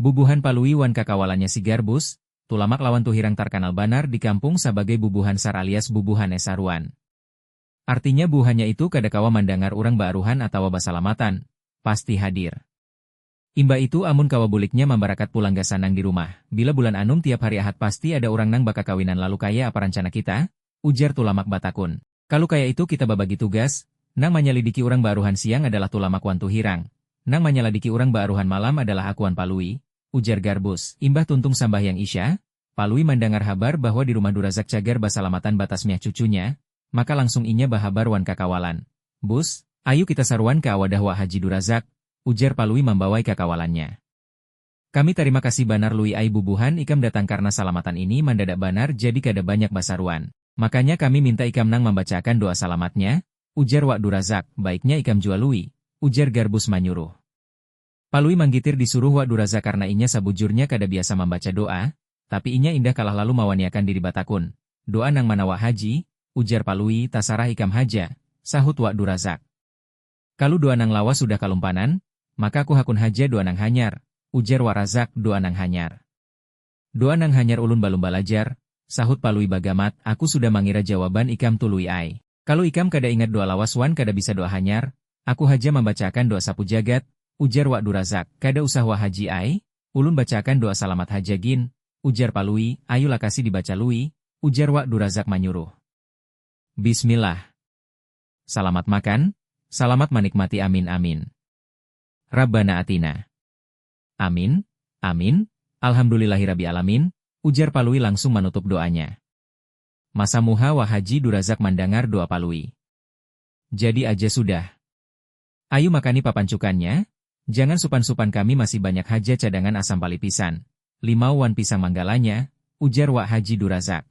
Bubuhan Palui wan kakawalannya si Garbus, Tulamak lawan Tuhirang tarkanal banar di kampung sabagai bubuhan sar alias bubuhan es saruan. Artinya buuhannya itu kada kawa mandangar urang baaruhan atawa basalamatan, pasti hadir. Imbah itu amun kawa buliknya mambarakat pulang gasan nang di rumah. Bila bulan anum tiap hari Ahad pasti ada urang nang bakakawinan lalu kaya apa rancana kita? ujar Tulamak batakun. Kalu kaya itu kita babagi tugas, nang manyalidiki urang baaruhan siang adalah Tulamak wan Tuhirang, nang manyaladiki urang baaruhan malam adalah aku wan Palui, ujar Garbus. Imbah tuntung sambahyang Isya, Palui mandangar habar bahwa di rumah Durazak cagar basalamatan batasmiah cucunya, maka langsung inya bahabar wan kakawalan. Bus, ayu kita saruan ka wadah wak Haji Durazak, ujar Palui mambawai kakawalannya. Kami tarima kasih banar Lui ai bubuhan ikam datang karna salamatan ini mandadak banar jadi kada banyak basaruan. Makanya kami minta ikam nang mambacaakan doa salamatnya, ujar Wak Durazak, baiknya ikam jua Lui, ujar Garbus manyuruh. Palui manggitir disuruh Wak Durazak karna inya sabujurnya kada biasa mambaca doa, tapi inya indah kalah lalu mawaniakan diri batakun, doa nang mana Wak Haji? ujar Palui, tasarah ikam haja, sahut Wak Durazak. Kalu dua nang lawas sudah kalumpanan, maka ku hakun haja dua nang hanyar, ujar Wak Razak, dua nang hanyar. Dua nang hanyar ulun balum balajar, sahut Palui bagamat, aku sudah mangira jawaban ikam tu Lui ai. Kalu ikam kada ingat dua lawas wan kada bisa dua hanyar, aku haja mambacaakan dua sapu jagat, ujar Wak Durazak. Kada usah Wak Haji ai, ulun bacaakan dua salamat haja gin, ujar Palui, ayu lakasi dibaca Lui, ujar Wak Durazak manyuruh. Bismillah. Salamat makan, salamat manikmati amin amin. Rabbana atinaa. Amin, amin, alhamdulillahirabbialamin, ujar Palui langsung manutup doanya. Masa muha wa Haji Durazak mandangar doa Palui. Jadi aja sudah. Ayu makani papancukannya, jangan supan-supan kami masih banyak haja cadangan asam palipisan, limau wan pisang manggalanya, ujar wak Haji Durazak.